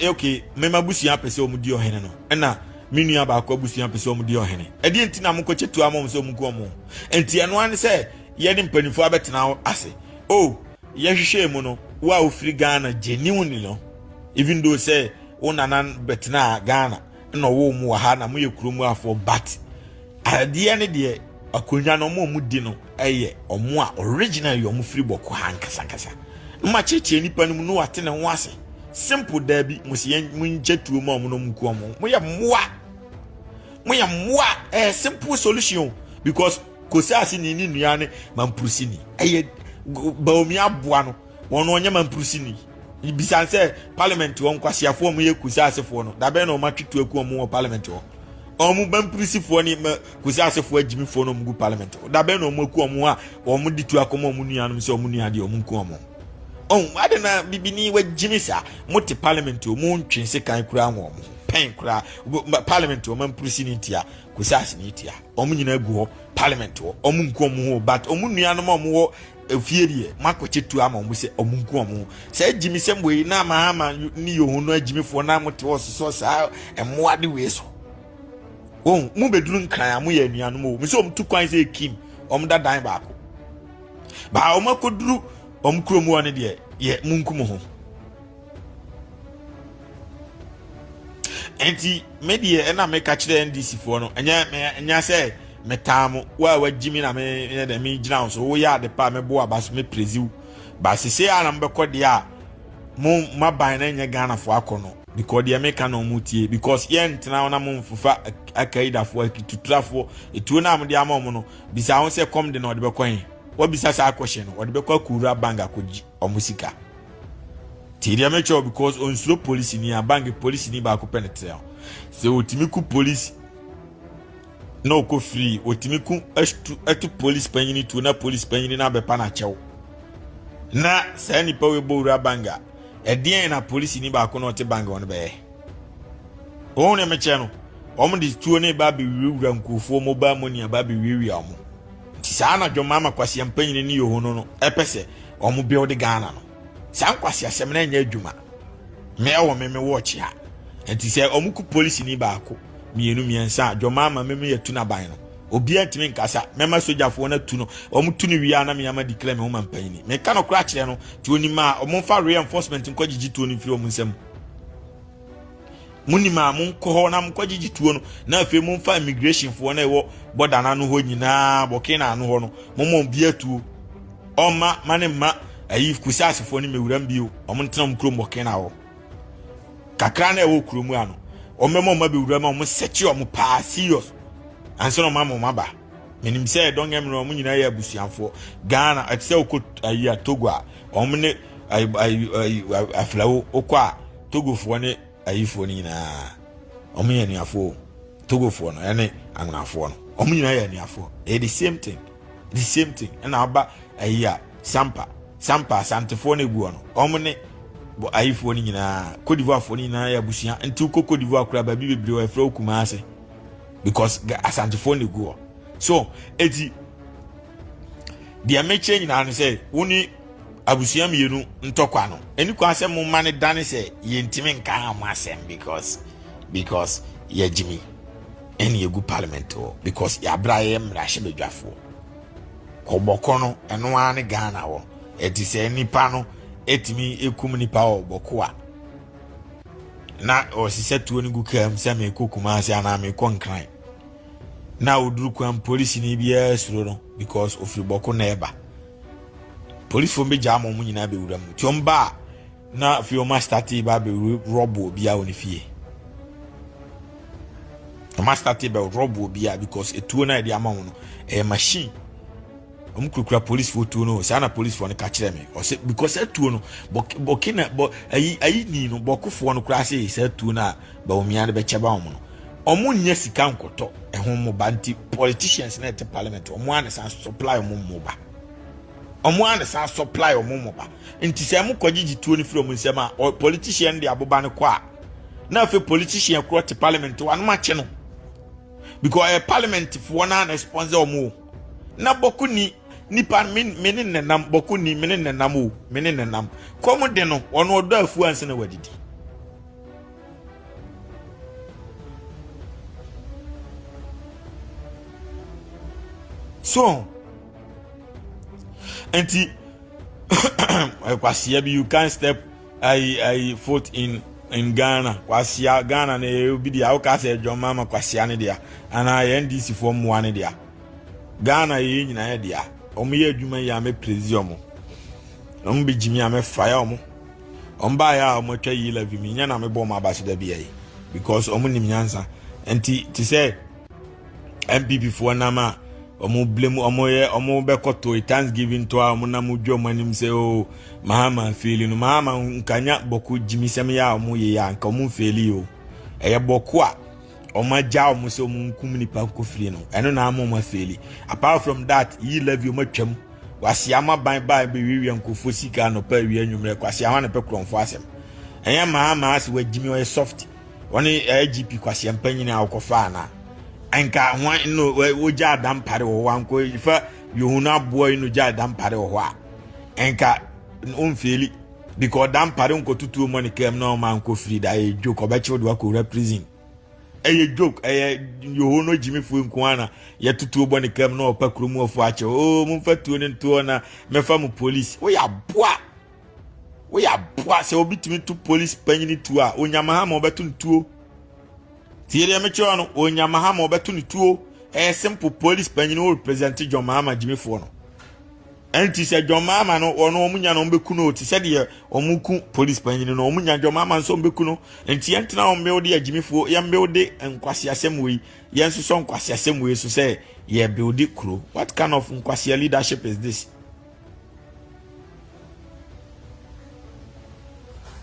okay, mɛma abusua pɛ sɛ wɔn di ɔhene no, ɛna me nua baako abusua pɛ sɛ wɔn di ɔhene. Ɛdeɛ nti na mo kɔkyɛ tu ama wɔn sɛ wɔn nku wɔn. Nti ɛnoa ne sɛ Yɛne mpaninfoɔ abɛtena ase oh yɛ hwehwɛɛ mu no wo a wofiri Ghana genuinely no even though sɛ wo nana bɛtena Ghana na ɔwɔ mu wɔ ha na moyɛ kuro mu afoɔ but adeɛ ne deɛ akonnwa no ɔmo a ɔmo di no ɛyɛ ɔmo a original yɛ ɔmo firi bɔkɔ ha nkasankasa mma kyekyɛ nipa no mu no wate ne ho ase simple daabi mo si yɛn mo nkyɛ tuo ma ɔmo no ɔmo ku ɔmo moyɛ mmoa moyɛ mmoa ɛyɛ simple solution because Kosasini ne nua ne mampurusini. Ɛyɛ Baomi aboa no. Wɔn no ɔnyɛ mampurusini. Bisan sɛ parliament hɔ nkwasiafoɔ ɔmo yɛ kusasefoɔ no. Dabɛn na ɔmo atwe tu aku ɔmo wɔ parliament hɔ. Ɔmo mampurusifoɔ ne ma kusasefoɔ agyimifoɔ na ɔmo gu parliament hɔ. Dabɛn na ɔmo aku ɔmo a ɔmo de tu akɔma ɔmo nuanom sɛ ɔmo nua deɛ ɔmo nku ɔmo. Ɔn ade na bibini wagyimi saa. Mo te parliament hɔ mo ntwe sekan koraa wɔ ɔmo ho. Pɛn koraa parliament hɔ mampurusini tia kusasini tia. Wɔn nyinaa gu hɔ, parliament hɔ, wɔn nku wɔn ho, but wɔn nuanom a wɔwɔ efie deɛ, moakɔkyɛ tuo ama wɔn sɛ wɔn nku wɔn ho. Saa agyimisɛm wei na ama ama ne yoho no agyimifoɔ na mote hɔ sosɔ saa mmoa de wei so. Wɔn mu bɛduru nkran a moyɛ anuanom o, mesɛ wɔn tu kwan sɛ ekim, wɔn da dan baako. Baa wɔn akɔduru wɔn kurom hɔ no deɛ, yɛ mo nku mo ho. nti me deɛ ɛna meka kyerɛ ndc foɔ no ɛnyɛ ɛnyɛ sɛ metaa mo wo a wagyi me na me yɛ dɛ me gyina wo so woyɛ ade pa a mɛbo aba so mɛpirezi wo ba sese a na mobɛkɔ deɛ a mo maban na ɛnyɛ ghanafoɔ akɔ no because deɛ meka na ɔmo tie because yɛntena hɔ na mo mfofa akaidafoɔ akituturafoɔ etuo no a mode ama ɔmo no bisa ho sɛ kɔm de na ɔde bɛkɔ he wabisa saa akɔhyɛ no ɔde bɛkɔ akɔwura bank akɔgye ɔmo sika. Nti deɛ mɛkyɛ wo because onsuro polisi ni a bank polisi ni baako pɛ ne tea sɛ otumi ku polisi na ɔkɔ firi otumi ku ɛtu ɛtu polisi panyini tuo na polisi panyini na abɛpa na akyɛw na saa nipa wo ebɔ wura bank a ɛdeɛn na polisi ni baako na ɔte bank wɔn bɛyɛ wɔn na mɛkyɛ no wɔn de tuo ne ba abɛwirawira nkurɔfoɔ mobile money aba abɛwiawia wɔn nti saa na dwɔn maama kwasia mpanyini ne yɛ no no ɛpɛ sɛ wɔn build ghana no saa nkwaseasɛm no ɛnyɛ adwuma me ɛwɔ me me watch ha nti sɛ wɔn ku polisi ni baako mmienu mmiɛnsa dwoma ama me me yɛtu n'aban no obiara ntumi nkasa mɛma sogyafoɔ no atu no wɔn tu no wie a na me ama declare me ho ma mpanyin ni meka no kora kyerɛ no tuo ni ma wɔn fa real enforcement nkɔ gyigye tuo no mfiri wɔn nsam. mo nim a mo nkɔ hɔ na mo kɔ gyegye tuo no na afei mo nfa immigration foɔ na ɛwɔ bɔda no ano hɔ nyinaa bɔkee na ano hɔ no mo mo bi atuo ɔma ma ne mma ayi kusase foɔ ne mewuram bio ɔmo ntena mo kurom bɔkee na hɔ kakra na ɛwɔ kurom ano ɔmo ma ɔmo bewuram a ɔmo sɛkye ɔmo paa serious ansa na ɔmo ama ɔmo aba menim sɛ don't get me wrong ɔmo nyinaa yɛ abusuafoɔ ghana ɛte sɛ okɔ ayi a togo a ɔmo ne ayi ayi ayi afilawo okɔ a. Togofoɔ ne ayifoɔ no nyinaa wɔn yɛ anuafoɔ o Togofoɔ no ɛne angonafoɔ no wɔn nyinaa yɛ anuafoɔ ɛyɛ the same thing the same thing ɛna aba ayi a sampa sampa asantefoɔ no eguɔ no wɔn ne ayifoɔ no nyinaa kodivoafoɔ no nyinaa yɛ abusua nti wokɔ kodivoa koraa baabi bebree wɔ ɛfrɛ okuma ase because asantefoɔ no eguɔ so eti deɛ mekyerɛ nyinaa no sɛ wo ne abusua mmienu ntɔkwa no ɛni kwan sɛ mo mma no dane sɛ yɛntumi nka ha mo asɛm because because yɛagyimi ɛne yɛgu parliament hɔ because yɛabrɛ ayɛ mmarahyɛ badwafoɔ kɔbɔkɔ no ɛno ara ne ghana hɔ ɛte sɛ nipa no ɛtumi ɛkum nipa wɔ bɔko a na ɔsesɛ tuo no gu kaa mu sɛ meekɔ kuma ase anaa meekɔ nkran na ɔduru kwan polisini biara suro no because ɔfiri bɔko na ɛba Polisfoɔ no bɛgyaa ma wɔn nyinaa bɛwura mu. Nti wɔn baa na afei wɔn astate ba bɛwura rɔbo obiara wɔ ne fie. Wɔn astate bɛ rɔbo obiara because etuo na yɛde ama wɔn no ɛyɛ machine. Wɔn kurakura polisfoɔ tuo no saa na polisfoɔ no ka kyerɛ me ɔsɛ because etuo no bɔkina bɔ ayi ayi ni no bɔkofoɔ no koraa sɛ saa tuo no a Bawumia no bɛkyɛ ba wɔn no ɔmo nyɛ sika nkɔtɔ ɛho mmoba nti politicians na ɛte parliament ɔmo a na san supply ɔmo mmoba ɔmo a na san supply ɔmo mmoba nti sɛ ɛmo kɔ gyegye tuo no firi ɔmo nsɛm a politician de aboba no kɔ a na afei politician korɔ te parliament wa no makye no because ɛyɛ parliament foɔ na na sponsor ɔmo na bɔko ni nipa me ne nenam bɔko ni me ne nenam o me ne nenam kɔm de no ɔno ɔdɔ afuo ansa na wadidi so nti kwasia bi you can step ayi ayi foot in in ghana kwasia ghana na ɛyɛ obi deɛ awoka sɛ ɛdwɔn mama kwasia ne deɛ anaa yɛn ndc foɔ mmoa ne deɛ ghana yɛyɛ nyinaa yɛ deɛ wɔn yɛ adwuma yi a mɛ prezi wɔn wɔn bɛ gyimi a mɛ faya wɔn. wɔn baeɛ a wɔn atwa yi levy mi nyɛ na mebɔ wɔn abase da bia yi because wɔn nim nyansa nti te sɛ npp foɔ nam a wɔn blame wɔn yɛ wɔn bɛkɔ to thanksgiving to a wɔn nam dwa wɔn anim sɛ o oh, mahama feeli no mahama nkanya bɔko gyimisɛm yɛ a wɔn yɛ yɛ a nka wɔn feeli o ɛyɛ bɔko a. wɔn agya wɔn sɛ wɔn nkum nipa nkɔ fie no ɛno na ama wɔn afeeli apart from that yi levy wɔn atwam kwasi ama ban baa bi wiwia nkofo sika anɔpa awia nwummerɛ kwasi ama na pɛ kurɔnfo asɛm ɛnyɛ maa maa sɛ wagyimi ɔyɛ soft wɔn agp kwasi mpanyin a wɔkɔfa ana nka wɔn no wɔgya adampare wɔ hɔ ankɔ ifa yehun aboa yi no gya adampare wɔ hɔ a nka wɔn fili. Because da mpare nkɔtutuo mmɔ ne kam na ɔma nkɔ firi da ɛyɛ joke ɔbɛkyew de wakɔwura prison ɛyɛ joke ɛyɛ yoho no gyimifoɔ nko ara na yɛtutuo bɔ ne kam na ɔpa kurom ɔfo akyɛw oo oh, momfa tuo no ntoɔ na mɛfa mo polisi woyɛ aboa woyɛ aboa sɛ obi tumi to polisi panyini tuo a onyama ha ma ɔbɛto no tuo tie deɛ mekyerɛ no onyama ha ma ɔbɛto no tuo ɛyɛ simple polisi panyini wo represent John Mahama gyimifoɔ no Ɛnti sɛ John Mahama no wɔn wɔn nya no wɔn bɛku no te sɛ deɛ wɔn ku polisi panyin no wɔn nya John Mahama nso wɔn bɛku no nti yɛn tena wɔn mbew de agyimifoɔ yɛn mbew de nkwasi asɛm wei yɛn nso sɔ nkwasi asɛm wei so sɛ yɛ bew de kuro what kind of nkwasi leadership is this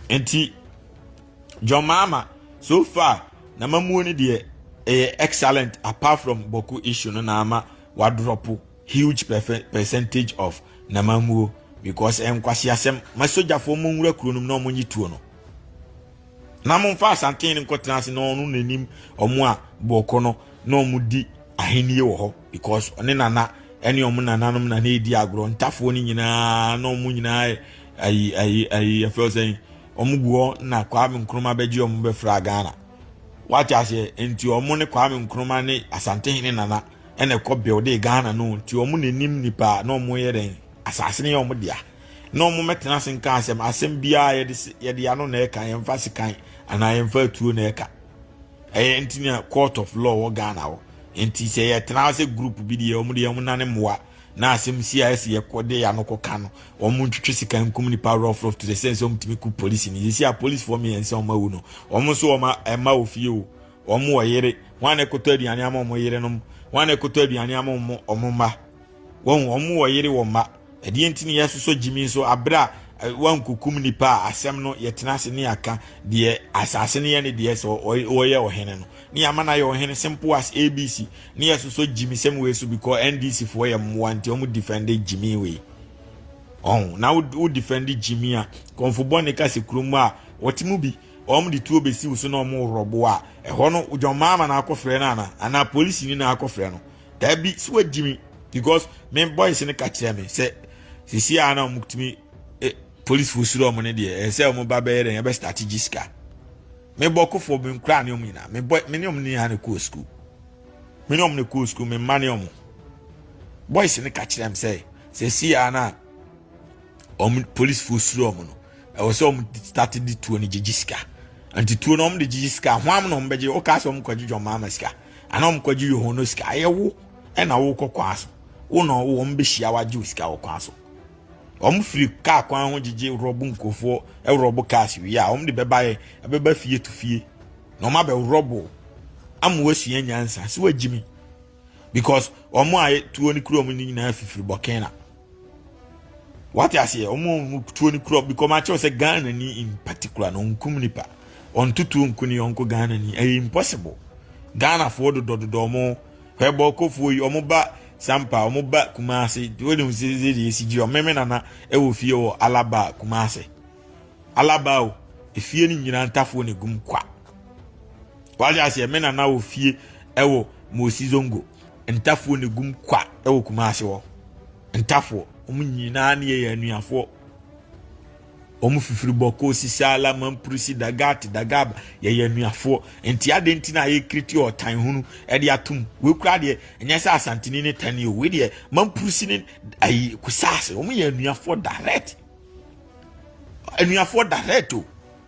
nti John Mahama so far na mamuo ne deɛ ɛyɛ excellent apart from Boku issue no na ama wadrɔpo. Huge percentage of Namammuo because ɛyɛ nkwaseasɛm. Ma sogyafoɔ mo nwura kuro no mu na wɔn nye tuo no. Na mo nfa asanten no nkɔtena ase na ɔno n'anim wɔn a bɔkɔ no na wɔn di ahennie wɔ hɔ because ɔne nana ɛne wɔn nananom na na edi agorɔ ntafoɔ no nyinaa na wɔn nyinaa yɛ ayi ayi ayi yɛfrɛ sɛn wɔn gu hɔ na Kwame Nkrumah bɛgye wɔn bɛfra Ghana. Wate aseɛ nti wɔn ne Kwame Nkrumah ne asanten ne nana. ɛna ɛkɔ builde ghana no nti wɔn na anim nipa na wɔn yɛ dɛn asase no yɛ wɔn dea na wɔn mɛtena ase nka asɛm asɛm biara yɛde yɛde ano na ɛka yɛn fa sekan anaa yɛn fa atuo na ɛka ɛyɛ nti na court of law wɔ ghana hɔ nti sɛ yɛtena ase group bi deɛ wɔn deɛ wɔn nane mmoa na asɛm si a ɛsi yɛkɔ de yɛ ano kɔ ka no wɔn ntwitwi sika nkum nipa rough rough to the sense wɔn tumi ku polisi ni sisi a polisifoɔ mmiɛnsa wɔn awu no wɔn nso wɔn ɛma ofie o. Wɔn wɔ yere. Wɔn a na ɛkɔtɔ aduane ama wɔn yerenom. Wɔn a na ɛkɔtɔ aduane ama wɔn wɔn mma. Wɔn wɔn wɔ yere wɔ mma. Ɛdeɛ nti na yɛsosɔ gyimi nso abere a wɔankukum nipa a asɛm no yɛtena ase ne yɛaka deɛ asase no yɛ ne deɛ sɛ ɔyɛ ɔhene no ne yɛama no ayɛ ɔhene simple as abc ne yɛsosɔ gyimi sɛm wei so because ndc foɔ yɛ mmoa nti wɔn defend gyimi wei ɔn na wo defend gyimi a kɔnfo bɔ ne kase kurom a wɔte mu bi wɔde tuo bɛsi wo so na wɔworɔ bo a ɛhɔ no dwɔmmaa ma no akɔfrɛ no ana anaa polisi ni na akɔfrɛ no daabi so wagyi me because me boys no ka kyerɛ me sɛ sisi a na wɔtumi eh, polisifoɔ suro wɔn no deɛ ɛyɛ sɛ wɔn ba bɛyɛ dɛ yɛbɛ start gye sika me bɔ kofoɔ me nkura ne wɔn nyinaa me bɔ me ne wɔn nyinaa na kɔɔ sukuu me ne wɔn na kɔɔ sukuu me mma ne wɔn boys no ka kyerɛ me sɛ sisi a na wɔn polisifo suro wɔn no ɛwɔ sɛ wɔn start de tuo no gyegye sika nti tuo no wɔn de gyegye sika ho am na wɔn bɛgye wɔka sɛ wɔn kɔgye dwom ama sika ana wɔn kɔgye yɛ wɔn no sika ɛyɛ wo ɛna wɔkɔ kwan so wo na ɔwɔ wɔn bɛhyia wagye sika wɔ kwan so wɔn firi kaa kwan ho gyegye rɔbo nkurɔfoɔ ɛrɔbo cars wie a wɔn de bɛba yɛ ɛbɛba fie to fie na wɔn abɛ rɔbo ama wɔasua nyansa so wagyimi. because wɔn a tuo no kura wɔn no nyinaa fifiri bɔkɛna wate aseɛ wɔn a tuo no kura because wɔn akyɛw sɛ ghana ni in particular na nkum nipa wɔn tutuo nku ne yɔnko ghana ni ɛyɛ impossible ghana foɔ dodɔdodɔ wɔn hwɛbɔ kofoɔ yi wɔn ba sampa wɔn ba kumase wɔn de wɔn sɛ ɛyɛ esi gyi wɔn mɛmɛ nana ɛwɔ fie wɔ alaba kumase. Alaba o, efie no nyinaa ntafoɔ na egum kwa. Wagye aseɛ me nana wɔ fie ɛwɔ Mosi Zongo ntafoɔ na egum kwa ɛwɔ Kumasi hɔ. Ntafoɔ wɔn nyinaa ne yɛ anuafoɔ. Wɔn fifiri bɔkɔ sisi ala mampurisi dagat dagab yɛyɛ anuafoɔ. Nti adeɛ nti na ayɛ kiriti ɔtan hunu ɛde atum. Wei kura adeɛ ɛnyɛ sɛ asantini ne tani o. Wei deɛ mampurisi ne ayi kusaase wɔn yɛ anuafoɔ direct. anuafoɔ direct o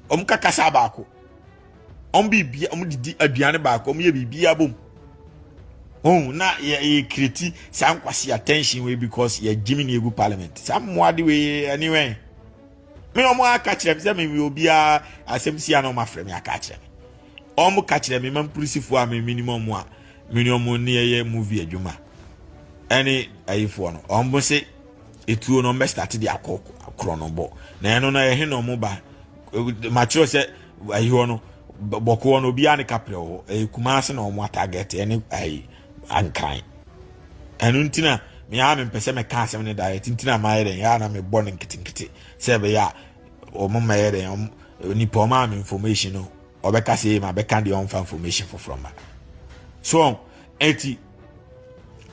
wɔn ka kasa baako wɔn biribi wɔn didi aduane baako wɔn yɛ biribi abom ohun na yɛ yɛ kireti saa nkwasi attention wei because yɛ gyimi na egu parliament saa mmoa de wei ɛni wɛn mi wɔn aka kyerɛ mi sɛ mi mi obiara asɛm si ano wɔn afrɛ mi aka kyerɛ mi wɔn ka kyerɛ mi ma mpolisifo a mi mi ni mu wɔn a mi ni wɔn ni yɛ movie adwuma ɛne ayifoɔ no wɔn se. etuo no ɔmbɛ start de akɔ korɔ no bɔ na ɛno no ɛhe na ɔmo ba makyerɛ sɛ ayi hɔ no bɔkoɔ no obiara ne kaprɛ wɔ hɔ ɛyɛ kumase na ɔmo atarget ɛne ayi ankan ɛno nti na meaa mempɛ sɛ mɛka asɛm no direct nti na mayɛ dɛn ɛa na mebɔ no nketenkete sɛ ɛbɛyɛ a ɔmo mɛyɛ dɛn ɔmo nipa ɔmo ama information no ɔbɛka sɛ ɛyɛ ma bɛka deɛ ɔmfa information foforɔ ma so ɛti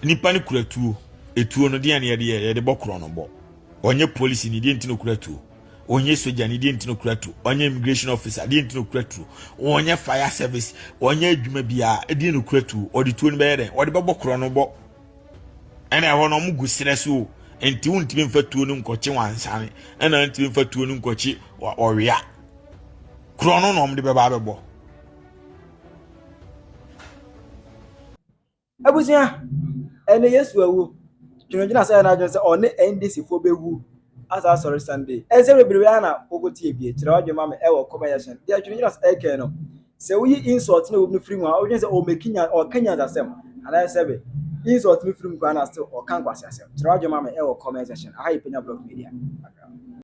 nipa no kura tuo etuo no deɛ no yɛde yɛ yɛde bɔ korɔ no bɔ ɔnyɛ polisi ne deɛ nti no kura tuo ɔnyɛ soja ne deɛ nti no kura tuo ɔnyɛ immigration officer deɛ nti no kura tuo ɔnyɛ fire service ɔnyɛ adwuma biara deɛ no kura tuo ɔde tuo no bɛyɛ dɛn ɔde bɛbɔ korɔ no bɔ ɛna ɛhɔ no ɔmo gu serɛ so o nti wontumi mfa tuo no nkɔkye wansane ɛna ntumi mfa tuo no nkɔkye ɔwea korɔ no na ɔmo de bɛba abɛbɔ Abusua, ɛnɛ Yesu awu. Dwendwene asɛ na adwene sɛ ɔne NDC fo bɛwu asa asɔre Sunday. Ɛnsɛ bebrebe ara na wokɔ tie bie. Kyerɛ w'adwene ma me ɛwɔ comment section. Deɛ dwendwene asɛ ɛkɛn no, sɛ woyi insult ne wom no firi mu a, wodwene sɛ ɔmɛki nya ɔka nyansa asɛm. Anaa sɛ be insult no firi mu koraa na still ɔka nkwasi asɛm. Kyerɛ w'adwene ma me ɛwɔ comment section. Aha yɛ Penya Blog Media.